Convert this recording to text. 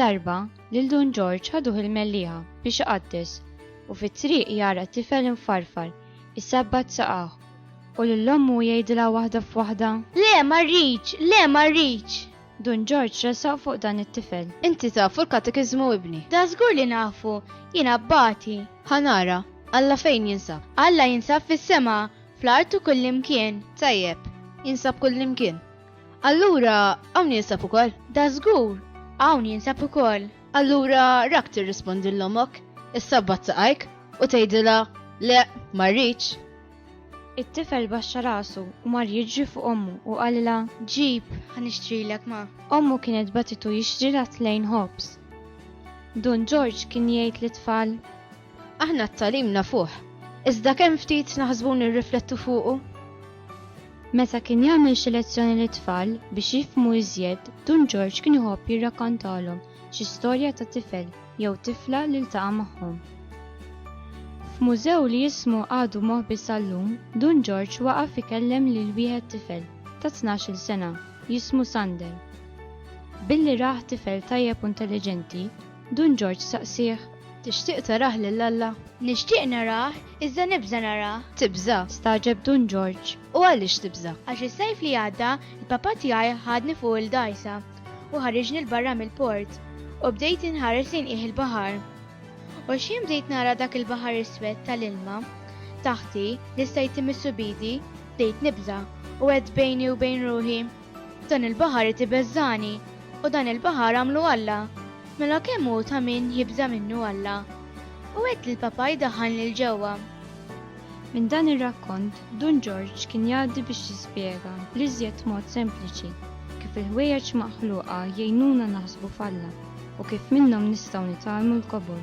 Darba, lil Dun Ġorġ ħaduh il-Mellieħa biex iqaddes u fit-triq jara tifel imfarfar isabbat saqajh u lil ommu jgħidilha waħda f'waħda, Le, ma rridx! Le, ma rridx! Dun Ġorġ resaq fuq dan it-tifel. Inti tafu l-katekiżmu ibni? Da żgur li nafu! Jien abbati. Ħa nara, Alla fejn jinsab? Alla jinsab fis-sema, fl-art u kullimkien. Tajjeb, jinsab kullimkien. Allura, hawn jinsab ukoll. Da żgur, hawn jinsab ukoll. Allura rak tirrispondi l omok, is-sabbat saqajk u tgħidilha le ma rridx. It-tifel baxxa rasu u mar jiġri fuq ommu u qalilha Ġib, ħa nixtrilek ma. Ommu kienet batitu jixtrilha tlejn ħobż. Dun Ġorġ kien jgħid lit-tfal Aħna t-tagħlim nafuh, iżda kemm ftit naħsbu u nirriflettu fuqu? Meta kien jagħmel xi lezzjoni lit-tfal biex jifhmu iżjed, Dun Ġorġ kien iħobb jirrakkontalhom xi storja ta' tifel jew tifla li ltaqa' magħhom. F'mużew li ismu għadu moħbi sal-lum, Dun Ġorġ waqaf ikellem lil wieħed tifel ta' tnax-il sena jismu Sander. Billi rah tifel tajjeb u intelliġenti, Dun Ġorġ saqsieh, Tixtieq tarah lil Alla? Nixtieq narah, iżda nibża' narah. Tibża'? stagħġeb Dun Ġorġ. U għaliex tibża'? Għax is-sajf li għadda, il-papà tiegħi ħadni fuq il-dgħajsa u ħariġni 'l barra mill-port, u bdejt inħares lejn qiegħ il-baħar. U x'ħin bdejt nara dak il-baħar iswed ta' l-ilma taħti li stajt imissu b'idi, bdejt nibża', u għedt bejni u bejn ruħi, Dan il-baħar qed ibeżżagħni, u dan il-baħar għamlu Alla. Mela kemm hu ta' min jibża' minnu Alla! U għedt lill-Papa jdaħħalni 'l ġewwa. Minn dan ir-rakkont, Dun Ġorġ kien jgħaddi biex jispjega bl-iżjed mod sempliċi kif il-ħwejjeġ maħluqa jgħinuna naħsbu f'Alla u kif minnhom nistgħu nitgħallmu l-kobor.